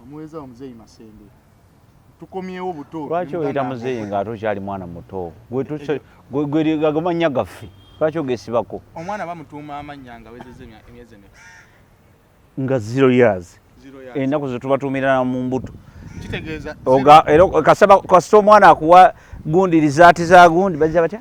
Omuweza wa muzeeyi Masembe tukomyewo buto. Lwaki oyita muzeeyi nga ate okyali mwana muto? Gwegago mannya gaffe lwaki ogesibako? Omwana bamutuuma amannya nga wezeza emyezi emeka? Nga zero years enaku zetubatuumira mu mbuto kasita omwana akuwa gundi lizaati za gundi bajja batya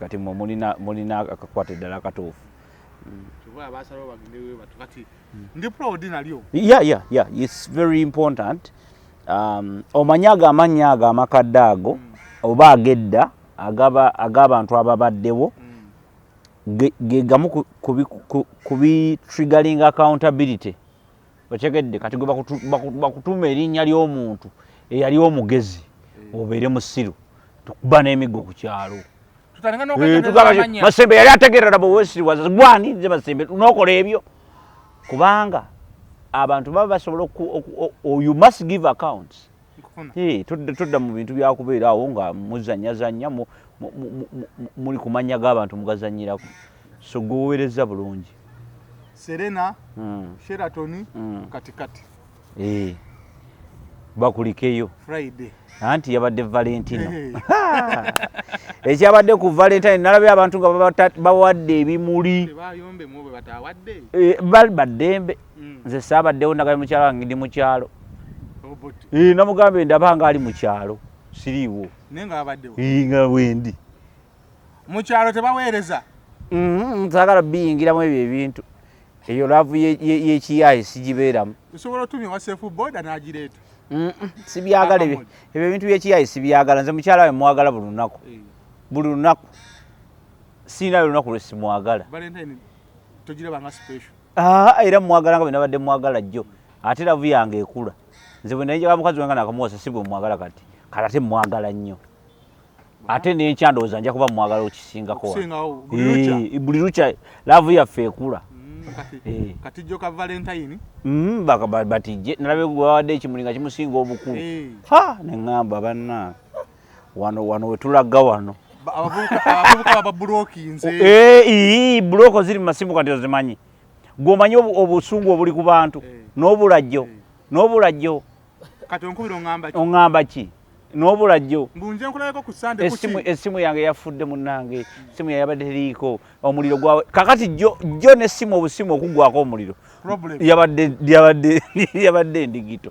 kati mwe mulina akakwata eddala akatuufu um, omanyi ago amannya ago amakadde ago mm. oba agedda ag'abantu ababaddewo mm. ge gamu ku bitrigaling accountability mm. okitegedde kati gwe bakutuuma erinnya ly'omuntu eyali omugezi eh. obeere musiru tukuba n'emiggo ku kyalo eh, masembe yali ategerera bwewesiriwaza gwani nze masembe nokola ebyo kubanga abantu baba basobola oyu must give accounts Hey, tudda mu bintu byakubeera awo nga muzanyazanya muli ku mannya g'abantu mugazanyirako so gwewowerezza bulungi serena mm. sheratoni mm. katikati hey. Eh. bakulikeyo friday anti yabadde valentino eh. ekyabadde ku valentine nalabye abantu nga bawadde ebimuli eh, baddembe mm. nze saabaddewo ndagabye mukyalo wange ndi mukyalo namugambye ndaba nga ali mukyalo siriiwo nga wendi mukyalo tebaweereza mm-hmm, sagala biyingiramu ebyo ebintu eyo laavu yekiyaye sigibeeramu osobola otumya wasefu boda nagireeta sibyagala ebyo ebintu byekiyaye sibyagala nze mukyala we mwagala buli lunaku eh. buli lunaku siinayo olunaku lwesimwagala Ah, era mumwagalanga bwe nabadde mwagala jjo ate lavu yange ekula nze bwe naye njagala mukazi wange nakamuwasa si bwe mwagala kati kati ate mwagala nnyo ate n'enkya ndowooza nja kuba mwagala okisingako buli lukya laavu yaffe ekula katijjo ka valentine batijje nalabe gwewawadde ekimuli nga kimusinga obukulu ha neŋŋamba banna wano wano wetulaga wano abavubuka babulokinze eh, buloko ziri mu masimu kati ozimanyi gwomanyi obusungu obuli ku bantu eh. n'obulajjo eh. n'obulajjo kati onkubira ongamba ki ongamba ki n'obulajjo mbunje nkulabeko ku sande kuki esimu esimu yange yafudde munange esimu yange yabadde liiko omuliro gwa kakati jo jo ne simu obusimu okugwako omuliro problem yabadde yabadde yabadde ndigito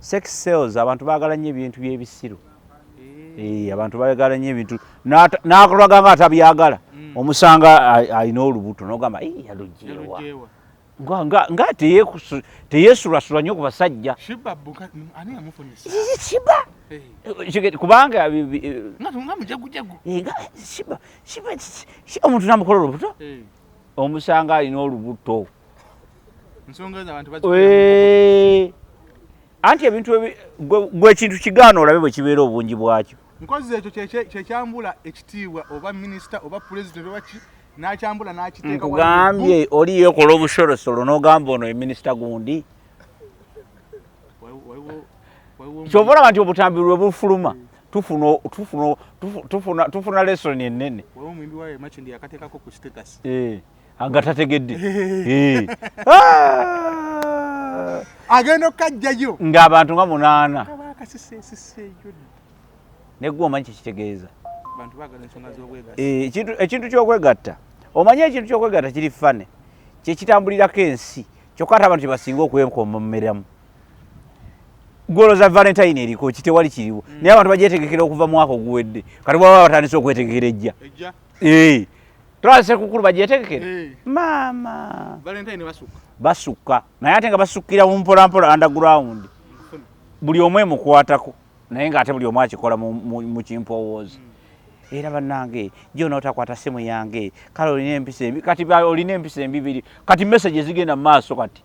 sex sales abantu bagala nnyo ebintu byebisiru eh. Eh, abantu bagala nnyo ebintu nakulaga nga atabyagala hmm. omusanga alina olubuto nogamba yalujewa nga teyesulasula nnyo ku basajja eh. kubanga omuntu namukola olubuto omusanga alina olubuto anti ebintu gwe ekintu kigaana olabe bwe kibeera obungi bwakyo nkozi ekyo kyekyambula ekitiibwa oba minisita oba pulezidenti oba ki nakyambula nakiteekugambye oli yekola obusolosolo nogamba ono ye minisita gundi kyova olaba nti obutambi lwe bufuluma tufuna lesoni enene nga tategedde ah! agenda okukajjayo ng'abantu nga munaana negwe omanyi kyekitegeeza ekintu kyokwegatta omanyi ekintu kyokwegatta kiri fane kyekitambulirako ensi kyokka ate abantu kyebasinga okwenkomomeramu gwoloza valentine eriko kitewali kiriwo hmm. naye abantu bagyetegekera okuva mwaka oguwedde kati bwaba batandise okwetegekera ejja twala sekukulu bagyetegekere eh. maama basukka naye ate nga basukkira mu mpolampola underground buli omu emukwatako naye ngaate buli omu akikola mu kimpowoozi hmm. era bannange gyona otakwata simu yange kale olina empisa embi kati olina empisa embibiri kati message ezigenda mu maaso kati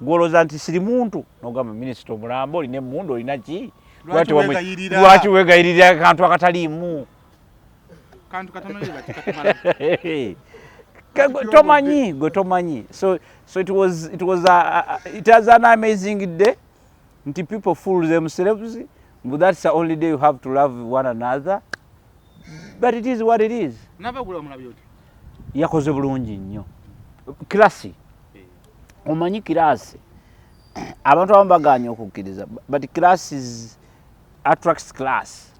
gwoloza nti siri muntu nogamba minisita omulamba olina emundu olina ki lwaki wegayirira akantu akataliimu tomanyi gwe tomanyi so so it was it was a, a, it has an amazing day nti people fool themselves but that's the only day you have to love one another but it is what it is yakoze bulungi nnyo classy omanyi kiraasi abantu abamu baganya okukkiriza but classes attracts class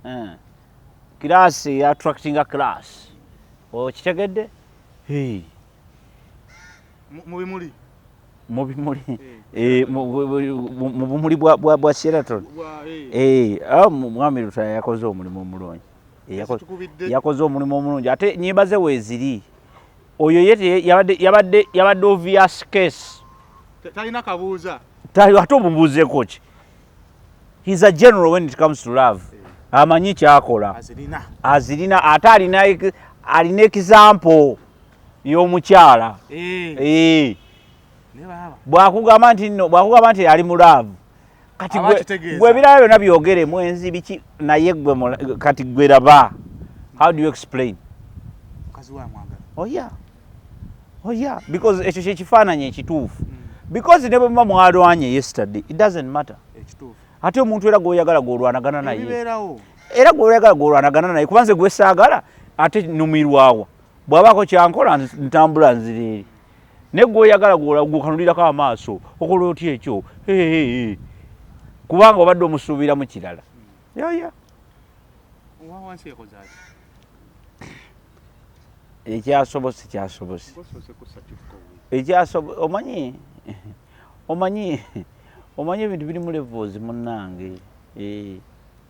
eh. kiraasi eyatractinga class okitegedde mubimuli mubimuli eh, mu bumuli bwa sheraton eh. ah, mwami lutaya yakoze omulimu omulungi yakoze omulimu omulungi ate nyimba ze weeziri oyo ye yabadde yabadde yabadde obvious case talina kabuuza tali ate omubuuzeeko ki he's a general when it comes to love amanyi kyakola azirina ate alina alina example y'omukyala eh. Eh. bwakugamba nti no bwakugamba nti ali mu love kati gwe ebirala byona byogere mwenzi biki naye gwe kati gwe laba how do you explain oya oh, oya oh, because ekyo kyekifaananyi ekituufu mm. because ne bwemuba mwalwanye yesterday it doesn't matter ate omuntu era gwoyagala gwolwanagana naye era gwoyagala gwolwanagana naye kubanze gwesaagala ate numirwawa bwabaako kyankola ntambula nzireeri naye gwoyagala gwokanulirako amaaso okola otya ekyo kubanga obadde omusuubiramu kirala yaya ekyasobose kyasobose omanyi omanyi omanyi ebintu biri mu levoozi munange eh.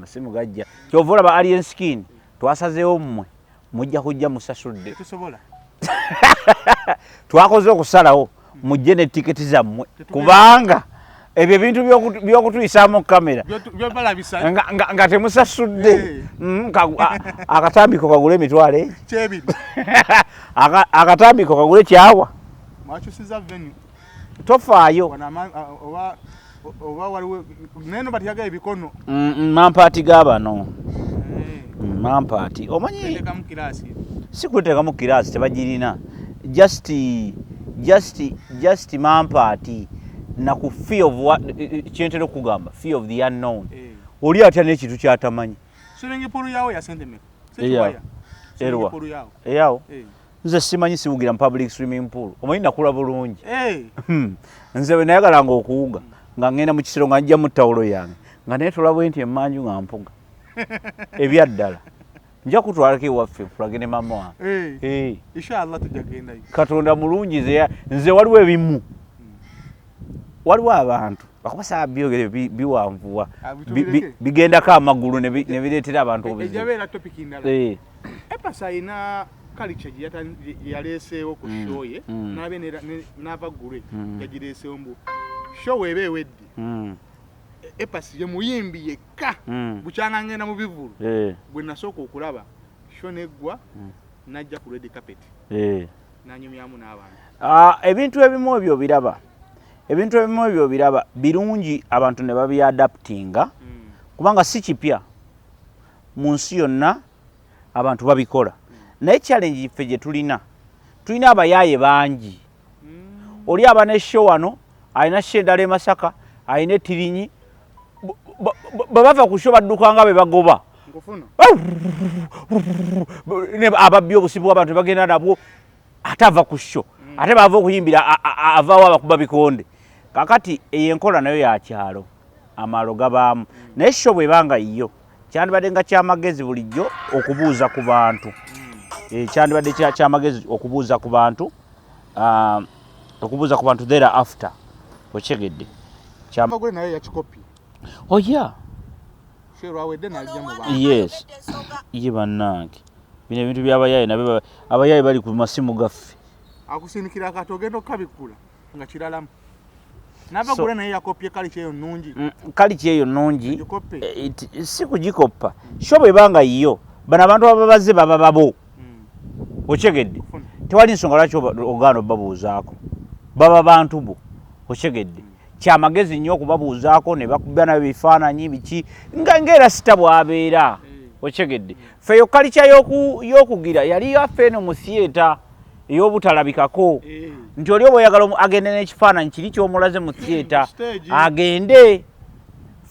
masimu gajja kyova olaba alien skin twasazeewo mmwe mujja kujja musasudde twakoze okusalawo mujje ne tiketi zammwe kubanga ebyo ebintu byokutuyisaamu kamera nga temusasudde eh. mm, akatambiko kagule emitwalo egi akatambiko kagule kyawa tofaayo oba waliwo naye no bati yagaye bikono mm, mm, mampaati ga bano eh. mm, mampaati omanyi si kuteekamu kiraasi tebagirina just just just mampaati naku fee of what eh, eh, kyentera okugamba fee of the unknown oli atya n'ekintu kyatamanyi erwa eyawo nze simanyi siwugira mu public swimming pool omanyi nakula bulungi hmm. nze bwe nayagalanga okuwuga nga ŋŋenda mu kisiro nga njja mu ttawulo yange nga naye tolabwe nti emanju nga mpuga ebyaddala nja kutwalako ewaffe kulage ne mama wange eh. eh. katonda mulungi nze waliwo ebimu waliwo abantu bakubasaba byogere biwanvuwa ah, bigendako amagulu nebireetera abantu obuzibu kalica yaleeseewo ku mm. show ye mm. nabe n'ava gulwe mm. yagireeseewo mbu show eba ewedde e, epasi ye muyimbi yekka bukyanga ngenda mu bivulu eh. gwe nasooka okulaba show neggwa najja ku redi carpet eh. nanyumyamu n'abantu ah, ebintu ebimu ebyo obiraba ebintu ebimu ebyo obiraba birungi abantu ne babyadaptinga kubanga si kipya mu nsi yonna abantu babikola naye challenge yiffe gye tulina tulina abayaaye bangi mm. oli aba ne sho wano alina sho endala e masaka alina etirinyi bwe bava ku sho badduka nga be bagoba ababbi obusibu bwabantu ne bagenda nabwo ate ava ku sho mm. ate baava okuyimbira avaawo abakuba bikonde kakati eyo enkola nayo yakyalo amaalo gabaamu naye sho bweba nga yiyo kyandibadde nga kyamagezi bulijjo okubuuza ku bantu hmm. eh, kyandibadde kyamagezi okubuuza ku bantu ah, okubuuza ku bantu there after okyegedde kyamagule naye yakikopi oya oh, yes ye bannange bino ebintu byabayaaye nabe abayaaye bali ku masimu gaffe akusindikira akati ogenda okukabikula nga kiralamu nabagula naye yakopye kaliki eyo nungi mm, kaliki eyo nungi eh, si kugikoppa sho bweba nga yiyo bano abantu ababaze baba babo mm. okyegedde tewali nsonga lwaki ogaana obabuuzaako baba bantu bo okyegedde mm. kyamagezi nnyo okubabuuzaako ne bakuba nayo bifaananyi biki nga ngaera sita bwabeera okyegedde feyo kalikya y'okugira yali yaffe eno mu theatre ey'obutalabikako eh. nti oli oba oyagala agende n'ekifaananyi kiri ky'omulaze mu theatre agende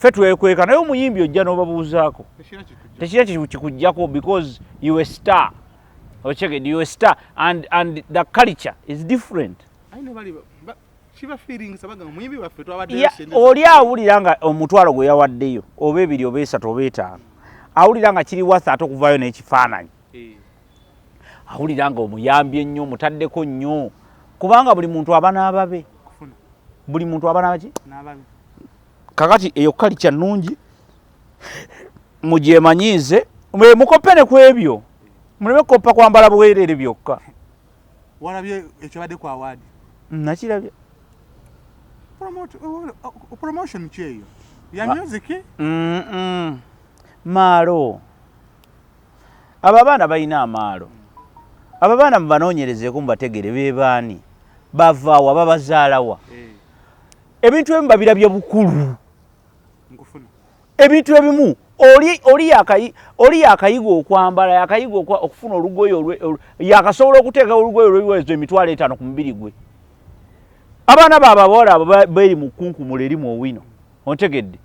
fe twekweka naye omuyimbi ojja n'obabuuzaako tekira kikujjako because you a star ocheged you a star and, and the culture is different oli awulira nga omutwalo gwe yawaddeyo oba ebiri oba esatu oba etaano awulira nga kiri watha ate okuvaayo n'ekifaananyi awulira nga omuyambi ennyo omutaddeko nnyo kubanga buli muntu aba n'ababe buli muntu aba nabaki kakati eyo kali kya nnungi mugyemanyiize mukoppe ne ku ebyo muleme kukoppa kwambala bwereere byokka walabye ekyobadde ku awaadi nakirabye promotion kyeyo ya music maalo abo abaana balina amaalo abo abaana mubanoonyerezeeko mubategere bebaani bavaawa babazaalawa eh. ebintu ebimu babirabye bukulu ebintu ebimu oli yakayiga okwambala yakayiga okufuna olugoye yakasobola okuteeka olugoye olwewezo emitwalo etaano ku mubiri gwe abaana baababoola abo beri mu kkunkumula erimu owino ontegedde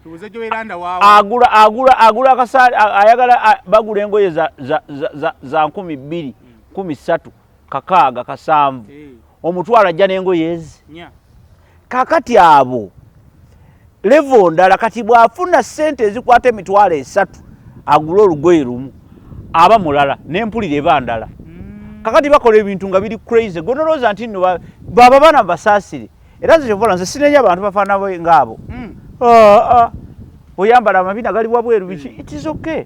agula agula agula akasaati ayagala bagula engoye za, za, za, za, za nkumi bbiri nkumi ssatu kakaaga kasanvu hey. Eh. omutwalo ajja n'engoye ezi yeah. kakati abo levo ndala kati bw'afuna ssente ezikwata emitwalo esatu agula olugoye lumu aba mulala n'empulira eba ndala mm. kakati bakola ebintu nga biri crazy gonolowooza nti nno baba bana basaasire ba era nze kyovola nze sinenya abantu bafaana bwe ngaabo hmm. ah, ah. oyambala amabina gali wabweru biki hmm. it is okay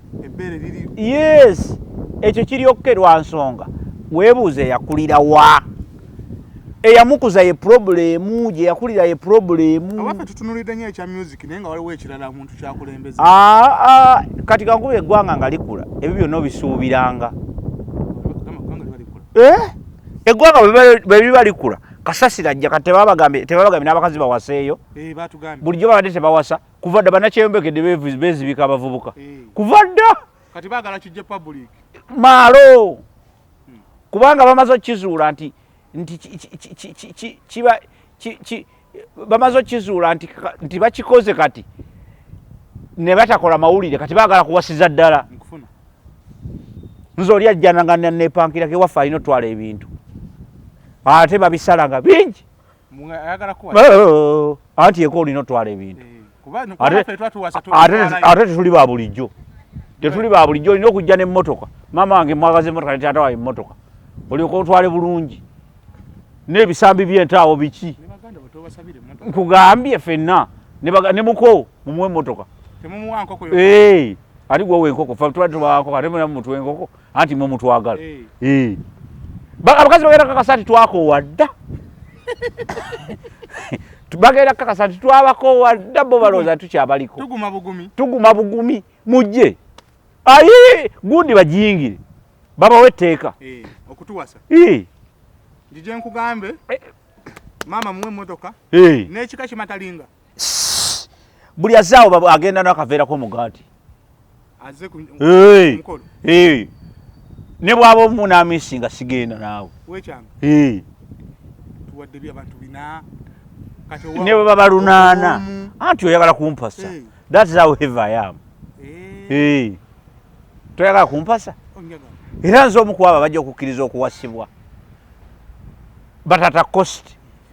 yes ekyo kiri okke lwa nsonga weebuuza eyakulira wa eyamukuza ye problemu gye yakulira ye problemu ah, kati kankuba eggwanga nga likula ebyo byonna obisuubiranga eh? eggwanga bwebiba likula kasasira ajja kati tebabagambye tebabagambye n'abakazi bawaseeyo eh, bulijjo babadde tebawasa kuva dda banakyeyombekedde bezibika abavubuka eh. kuva dda kati bagala kijje public maalo hmm. kubanga bamaze okukizuula nti nti kiba bamaze okukizuula nti nti bakikoze kati ne batakola mawulire kati bagala kuwasiza ddala nze oli ajjana nga nepankirako ewaffe alina otwala ebintu ate babisala nga bingi oh, anti eko olina otwala ebintu eh, ate tetuli ba bulijjo tetuli ba bulijjo olina okujja nemotoka maama wange mwagaza emotoka ne taata wawe emotoka olyoka otwale bulungi n'ebisambi byentaawo biki nkugambye fenna ne muko mumuwe emotoka ati gwowa enkoko fe tubadde tubawako ate muna mumutwa enkoko anti mwe mutwagala eh. Eh. abakazi bagenda kakasa nti twakoowa dda bagenda kakasa nti twabakoowa dda bo balowooza tukyabaliko tuguma bugumi mujje ayi gundi bajingire babawo etteeka eh, okutuwasa njijenkugambemaama muwe emotoka nekika kimatalinga buli azaawo agenda nakaveerako omugaati ne bwaba omunamisi nga sigenda naawe ne bweba balunaana anti oyagala kumpasa thats how heavy i am toyagala kumpasa era nze omukwaba bajja okukkiriza okuwasibwa batata costi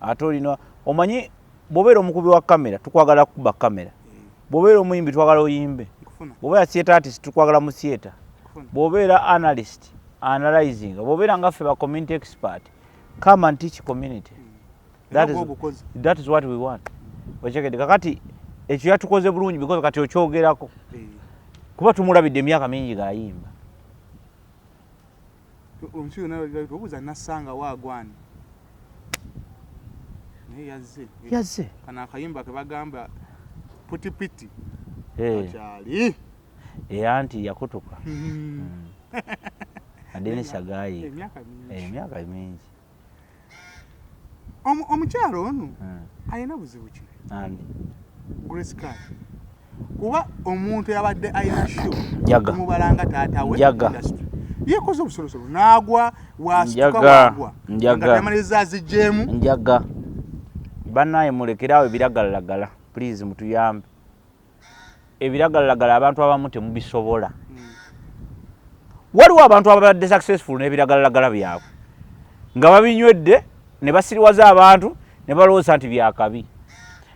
ate olina omanyi bwobeera omukubi wa kamera tukwagala kukuba kamera bwobeera omuyimbi twagala oyimbe bwobeera theatre artist tukwagala mu theatre bwobeera analyst analyzing bwobeera ngaffe ba community expert come and teach community hmm. that is, that is what we want okyekede kakati ekyo yatukoze bulungi because kati okyogerako hmm. kuba tumulabidde emyaka mingi gayimba omusiri nalabira tobuuza nassanga waagwani naye yazze yazze kana akayimba ke bagamba putipiti akyali eh. era eh, nti yakutuka hmm. Hmm. adeni sagayi emyaka mingi eh, omukyalo ono hmm. alina buzibu ki grace card kuba omuntu yabadde alina sho mubalanga taata we yekoze obusolosolo nagwa wastukawagwa njagamaliza azigyemu njaga banaye mulekeraawo ebiragalalagala please mutuyambe ebiragalalagala abantu abamu temubisobola hmm. waliwo abantu ababadde successful n'ebiragalalagala byabwe nga babinywedde ne basiriwaza abantu ne balowooza nti byakabi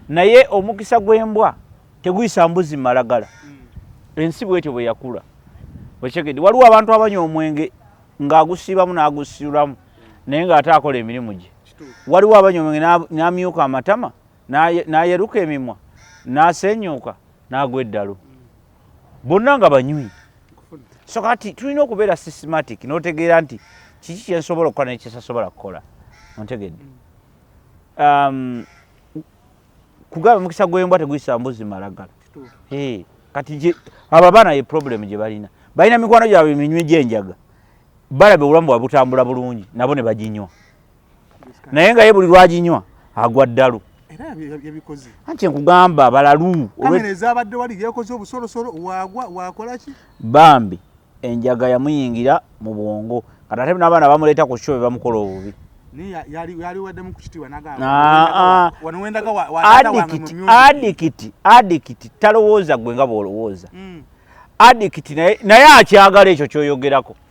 naye omukisa gw'embwa teguyisa mbuzi malagala hmm. ensi bwetyo bwe yakula okitegedde waliwo abantu abanywa omwenge ng'agusiibamu n'agusiulamu naye ng'ate akola emirimu gye waliwo abanywa omwenge n'amyuka amatama n'ayeruka emimwa n'asenyuuka n'agwa eddalu bonna nga banywi so kati tulina okubeera systematic n'otegeera nti kiki kyensobola okukola nekyesasobola kukola ontegedde um, kugaba mukisa gwembwa teguyisa mbuzi malagala kati abo abaana ye problemu gye balina balina mikwano gyabwe minywi gyenjaga balaba obulamu bwabwe butambula bulungi nabo ne baginywa naye nga ye buli lwaginywa agwa ddalu anti nkugamba balalu bambi enjaga yamuyingira mu bwongo kati ate n'abaana bamuleeta ku kyo be bamukola obubi adikiti adikiti talowooza gwe nga bw'olowooza mm. adikiti naye akyagala ekyo kyoyogerako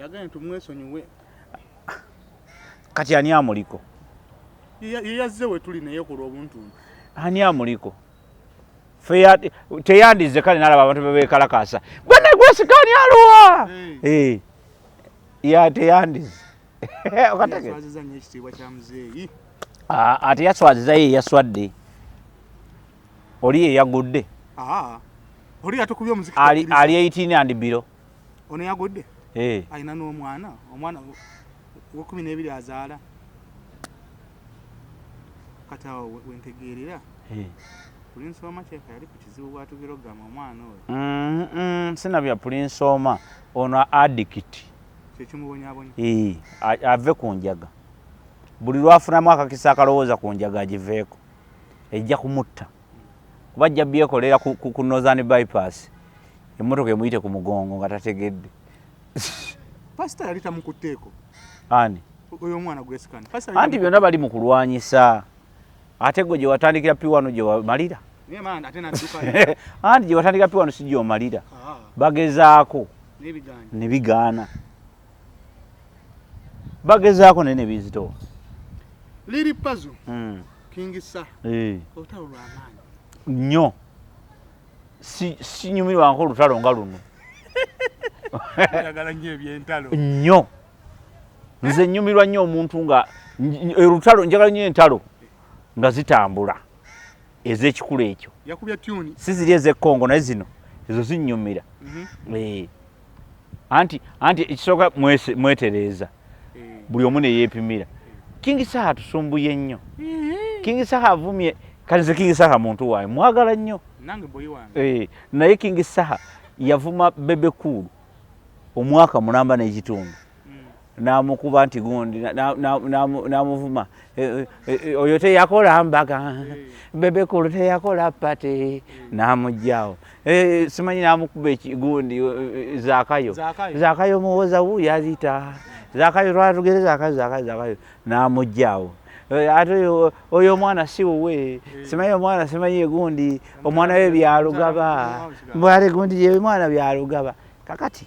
yagambye nti mwesonyiwe kati ani amuliko yeyazze wetuli naye ku lw'obuntu ani amuliko teyandizze kale nalaba abantu bebekalakaasa gwenegwesikani aluwa eh. ya teyandizze ate yaswaziza ye yaswadde oli yeyagudde ali 18 andibiro ono yagudde eh. alina n'omwana omwana wekumi n'ebiri azaala kati awo wentegeerera eh. pulinsi oma kyeka yali ku kizibu bwatugera okugamba omwana oyo mm-hmm. sina bya pulinsi oma ono adikiti kyekimubonyabonya eh, ave ku njaga buli lwafunamu akakisa akalowooza ku njaga agiveeko ejja kumutta kuba ajja byekolera ku, ku, ku northern bypass emmotoka emuyite ku mugongo nga tategedde pasita yali tamukutteeko ani oyo omwana gwesikana anti byonna bali mu kulwanyisa ate gwe gye watandikira pi wano gye wamalira anti gye watandikira pi wano si gye omalira ah. bagezaako ne bigaana bagezaako naye nebizitowa liri pazo hmm. kingisa eh. olutalo lwamaanyi nnyo sinyumirwanko olutalo nga luno nnyo nze nyumirwa nnyo omuntu nga olutalo njagala nnyo entalo nga zitambula ezekikulu ekyo si ziri ezekongo naye zino ezo zinyumira mhm. eh. anti anti ekisooka mwetereeza eh. buli omu neyepimira kingi saha tusumbuye nnyo eh. kingi saha avumye kalize kingi saha muntu waayo mwagala nnyo naye kingi saha yavuma bebekuulu omwaka mulamba n'ekitundu namukuba nti gundi namuvuma e, e, e, oyo teyakola mbaga hmm. bebekulu teyakola pati hmm. namugjawo simanyi namukuba ekigundi zakayo zakayo muwoza wu yazita zakayo lwatugere zakayo zakayo zakayo namugjawo ate oyo omwana si wuwe hmm. simanyi omwana simanyi egundi omwana we byalugaba mbwale gundi yemwana byalugaba kakati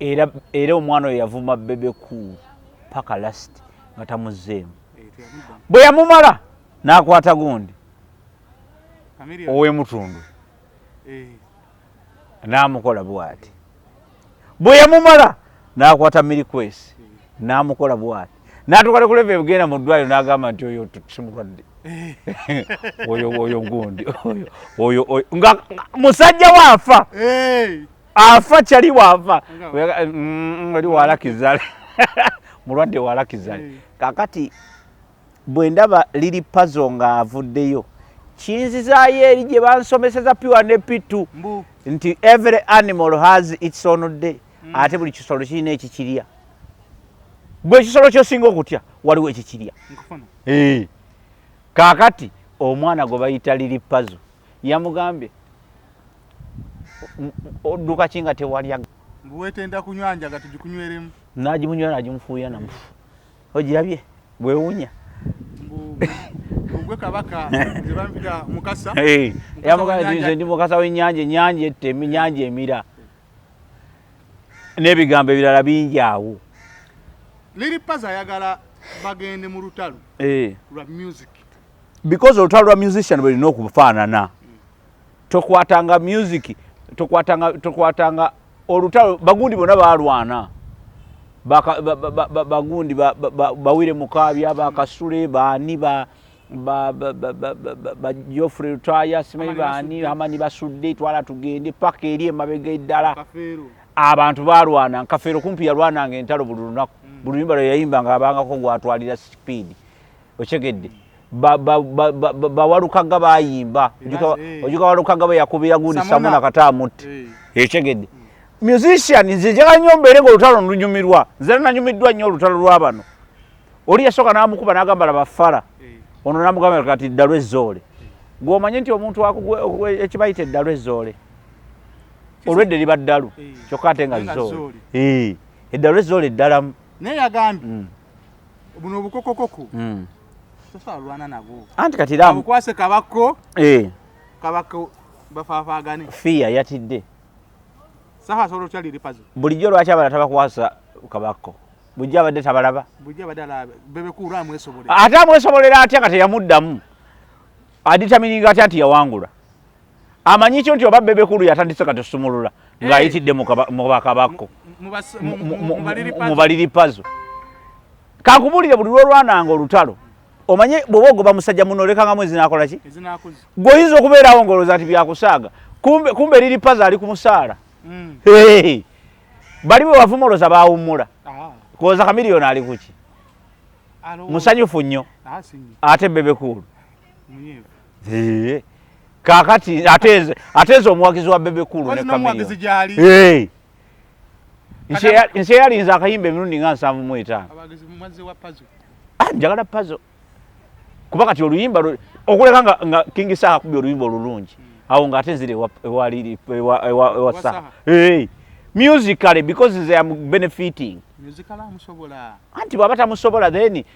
era era omwana oyo yavuma bebe cool paka last nga tamuzzeemu bwe yamumala n'akwata gundi ow'emutundu eh. n'amukola bwati bwe yamumala n'akwata mirikwesi eh. n'amukola bwati n'atuukale kuleva ebigenda mu ddwaliro n'agamba nti oyo simulwadde eh. oyo oyo gundi oyo oyo nga musajja waafa afa kyali bwava mm, oli walakizale mulwadde walakizale eh. kakati bwe ndaba liri pazo ng'avuddeyo kinzizaayo eri gye bansomeseza piwa ne pitu nti every animal has its own day mm. ate buli kisolo kirina ekikirya gwe ekisolo kyosinga okutya waliwo ekikirya eh. kakati omwana gwe bayita liri pazo yamugambye odduka ki nga tewalya mbu wetenda kunywa njaga tugikunyweremu nagimunywa nagimufuuya namufu ogirabye bwewunya ogwe kabaka ebampita mukasa yamugainze ndi mukasa wenyanja enyanja ette nyanja emira n'ebigambo ebirala bingi awo liri paza ayagala bagende mu lutalo lwa music because olutalo lwa musician bwerina okufaanana tokwatanga music tokwatanga tokwatanga olutalo bagundi bona balwana bagundi bawire mukabya bakasule bani ba bajofre lutaya simanyi bani amani basudde twala tugende paka eri emabega eddala abantu balwana nkafeero kumpi yalwananga entalo buli lunaku mm. buli lunyumba lweyayimba nga abangako gwatwalira sipiidi okitegedde bawalukaga bayimba ojuka walukaga beyakubira gundi samuna kata amutti ekitegedde eh. hmm. musician nze njagala nnyo mbeere nga olutalo nlunyumirwa nze nanyumiddwa nnyo olutalo lwabano oli yasooka namukuba nagamba labafala eh. ono namugamba kati ddalu ezzoole gwomanyi nti omuntu ekibayita eddalu ezzoole olwedde liba ddalu eh. kyokka ate nga zzoole eddalu ezzoole eddalamu naye yagambye hmm. buno obukokokoko mm. tosalwana nabo anti kati ramu kwase kabako eh kabako bafafagane fiya yatidde saha solo chali lipazo bulijjo lwaki abala tabakwasa kabako bujja abadde tabalaba bujja abadde alaba bebe kuura amwesobolera ate amwesobolera atya kati yamuddamu aditamininga atya nti yawangula amanyi kyo nti oba bebe kulu yatandise kati osumulula ng'ayitidde mubakabakko mubaliri pazo kankubulire buli lwolwananga olutalo omanye bwoba ogoba musajja muno olekangamu ezinakola ki gwe oyinza okubeerawo ngaolowooza nti byakusaaga kumbe liri pazo ali ku musaala mm. bali bwe wavuma olowooza bawummula ah. kuwoza kamiliyoni ali kuki musanyufu nnyo ah, ate bebe kulu Eee. Kakati ateze ateze omuwagizi wa bebe kulu ne kamera. Omuwagizi jali. Hey. Nse nse yali nza kayimbe mirundi nga nsamu mu eta. Abagizi mumazi wa pazo. Ah njagala pazo. Kuba kati oluyimba okuleka nga, nga King Saha kubyo oluyimba olulungi. Hmm. Awo nga atezire wa wa lili wa wa, wa Saha. Hey. Musically because they are benefiting. Musically amusobola. Anti baba tamusobola then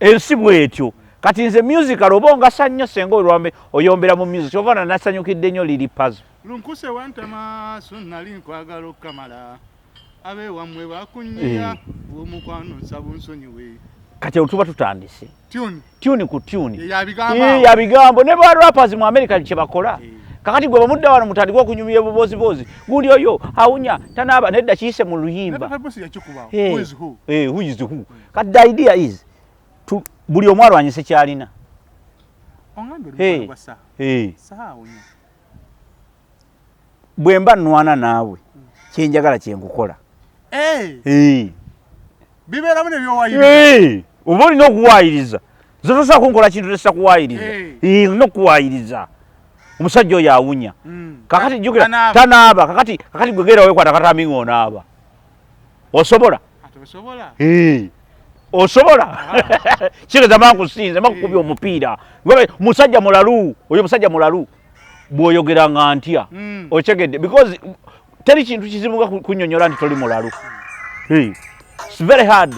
ensi bwetyo kati nze musical oba ongasa nnyo senga olwambe oyombera mu music kyova na nasanyukidde nnyo liri pazo lunkuse wantama so nali nkwagala okukamala abe wamwe bakunyiya eh. omukwano nsaba onsonyiwe kati otuba tutandise tuni ku tuni yabigambo ne ba rappers mu america kyebakola eh. kakati gwe bamudda wano mutandika okunyumya ebubooziboozi gundi oyo awunya tanaaba nedda kiyise mu luyimba eh, who is who Kati the idea is to buli omu alwanyise kyalina. Ongambe hey. Saha. Hey. Saha onyo. Bwe mba nwana naawe mm. kye njagala kye nkukola. Hey. Hey. Bibeera mu ne byowayiriza. Hey. Oba olina okuwaayiriza. Zotosobola kunkola kintu tesa kuwaayiriza. Hey. Hey. Olina okuwaayiriza. Omusajja oyo awunya. Mm. Kakati jjukira tanaaba kakati kakati gwe gera wekwata katambi ng'onaaba. osobola osobola kigeza bankusinze bakukubya omupiira musajja mulalu oyo musajja mulalu bwoyogera nga ntya hmm. okyegedde because teri kintu kizibu nga kunyonyola nti toli mulalu very hard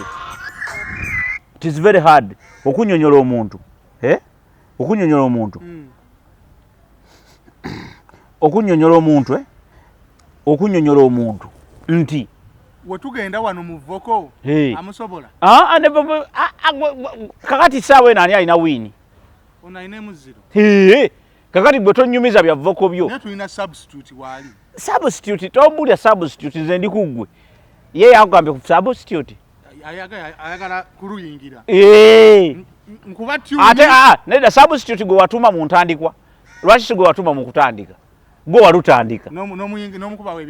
tis very hard okunyonyola omuntu eh? okunyonyola omuntu hmm. okunyonyola omuntu eh? okunyonyola omuntu nti wetugenda wano muvoko amusobola ah, ah, ah, kakati saawa eno ani alina wiini kakati gwe tonyumiza bya voko byo substitute tombulya substitute nze ndi kuggwe ye yakugambye ku substitute ayagala kuluyingira eh. nkuba tyuni ate ah, ah, nedda substitute gwe watuma mu ntandikwa lwaki si gwe watuma mu kutandika gwe walutandika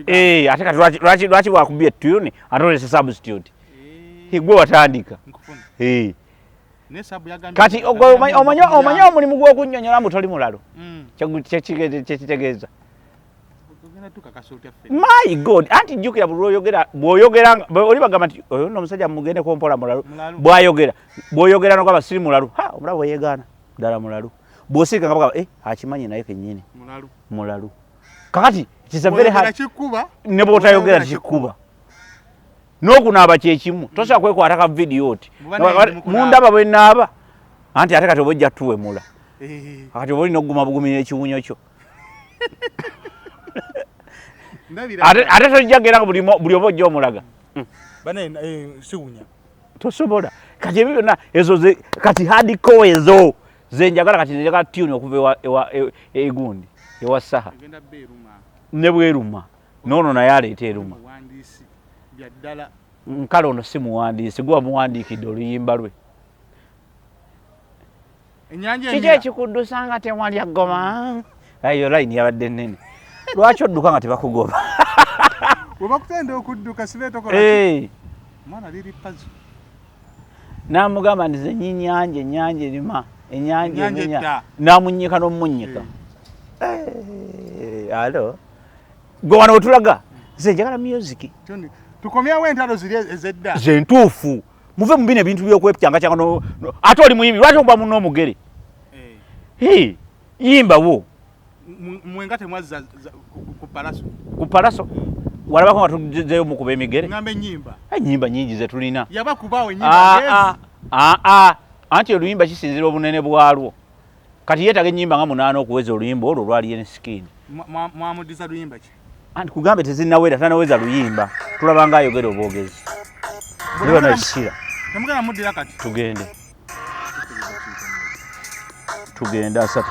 eh, ate kati lwaki wakubye tyuni ate olese substitute eh. gwe watandika kati omanya omulimu gw'okunyonyola mbu toli mulalo mm. kyekitegeeza my god anti jukira buli lwoyogera bwoyogera oli bagamba nti oyo no omusajja mugendeko mpola mulalu bwayogera bwoyogera nogamba siri mulalu ha omulaba weyegaana ddala mulalu bwosirika nga bagamba eh akimanyi naye kenyini mulalu mulalu kakati kisavere ha ne bwotayogera kikuba nokunaaba kyekimu tosobola kwekwata ka vidiyo oti mundaba bwenaaba anti ate kati oba ojja tuwemula eh. kati oba olina okuguma bugumira ekiwunyo kyo ate tojjagera buli oba ojja omulaga hmm. eh, siwunya tosobola kati ebyo byonna ezo kati hadiko ezo zenjagala kati njagala tuni okuva egundi e, e, ewa saha ne bweruma noono naye aleeta eruma nkale ono si muwandiisi gwe wamuwandiikidde oluyimba lwe kiki ekikuddusa nga tewalya ggoma eyo layini yabadde nene lwaki odduka nga tebakugoba webakutenda okudduka sibeetokolamwana liri pazo namugamba nti zenyi nyanja enyanja erima enyanja emenya namunyika nomunyika eh. eh, alo gwe wano wetulaga nze njagala musiki tukomyawo entalo ziri ezedda zentuufu e muve mubino ebintu byokwepyanga kyanga no, no. ate oli muyimbi lwaki oba muno omugere hey. yimba wo mwenga temwazza ku palaso ku palaso walabako nga tuzeyo mukuba emigere ngambe nyimba enyimba eh, nyingi zetulina yaba kubawo nyimba ah, yes. ah, ah, ah. anti oluyimba kisinzira obunene bwalwo kati yetaga enyimba nga munaana okuweza oluyimba olwo lwali enskin mwamudiza luyimba ki anti kugambe tezinawera tanaweza luyimba tulaba nga ayogera obwogezi leba nayo sira temugenda muddira kati tugende tugende asatu